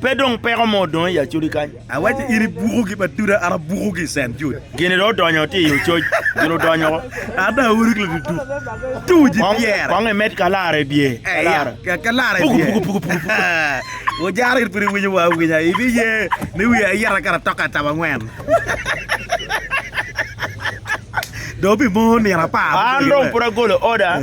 Pe dong peko mo odong i acodi kany. Awaco in ibukogi ba duda, an abukogi i Cent Jude. Gin dong odonyo tye i ococ, gin odonyo ko. An dong awoto ki laduduk, tuc i pyere. Kong imed ka lara i bye, ka lara. Ka, ka lara i bye. Ojara in pud iwinyo wa awinya, ibiye ni wiye ayit akato atoka acaba angwen. Dong pi mo nino apar. An dong pud agolo oda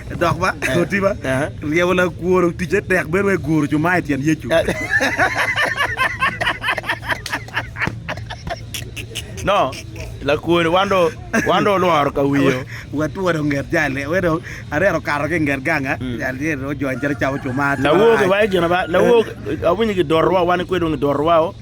Dok ba, oti ba, ryebo lakwor oticce tek bedo wai guro cuma i tyen Yecu. No, lakwor wan do wan do olworo ka wiyo. Watwone onget jali, we dong arero kato ki nget ganga, jali tye ojony calo camo cuma. Lawok iwaye gina ba, lawok awinyo gidoro wa wan ikwe dong gidoro wao.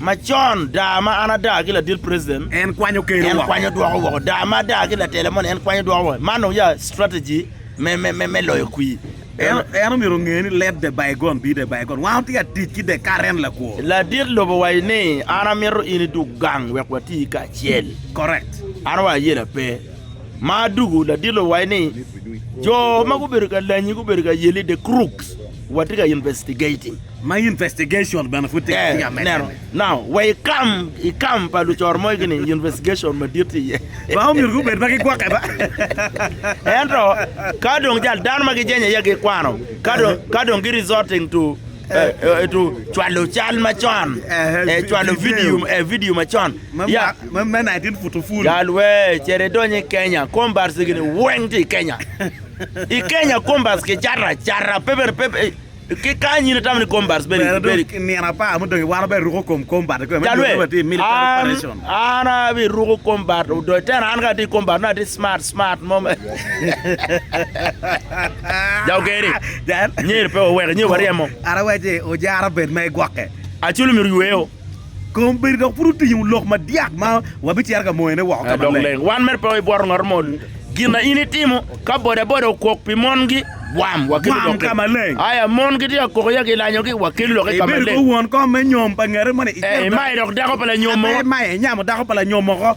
Macon, daa ma an adaa ki ladit president, en kwanyo keno woko, en kwanyo dwoko woko, daa ma adaa ki latela moni, en kwanyo dwoko woko, man dong ya strategy me loyo kwir. En omyero onge ni let the bygone be the bygone, wan watye ka tic ki the current lakwo. Ladit lobo owaco ni, an amito in idug gang wek wati kacel. Correct. An owaco ayela pe. Ma adugu, ladit lobo owaco ni, jo ma gubedo ka lanyi gubedo ka yeli the crooks. Watye ka investigating. Ma investigation bene pud tye ka medde ni. Now, wa i kam, i kam pa lucoro mogo ni investigation madit tye iye. Ba omyero gubed ma gigwokke ba. Ento, ka dong jal, dano ma gijenyo iye gikwano, ka dong, ka dong gi resorting to, eh, eh, to cwalo cal macon, eh, cwalo video, eh, video macon. Ma, Ya, ma, ma 19 put oful. jal, wee, cere idony i Kenya, kom bar cigini weng tye i Kenya. I Kenya kombas kicato acata, pe bene pe ki kany in itamo ni kombas bene Bene dong i nino apar mudong wano bene ruko kom kombat kwe me Jalwe, dwogo bati military an, operation. an abiruko kombat odoi tena an ka ati kombat na ati smart smart mo me ja ogeri Jan. nyer pe waweke nyer waryemo Ara wace ojara bed ma igwokke. acel omyero yweyo Kom bedo dok pud otingo lok madyak ma wabicito ka moyone woko ka maleng. Dok wan mere pe wabibworo ngat mo. Gin ma in itimo ka bodaboda okok pi mongi, bwam, wakelu lok ka maleng. Aya, mon gitye ka koko ya gilanyogi, wakelu lok ka maleng. Ibedo kor won kom me nyom pa ngete moni, imayo dok dako pa lanyom mo. Imayo, inyamo dako pa lanyom moko.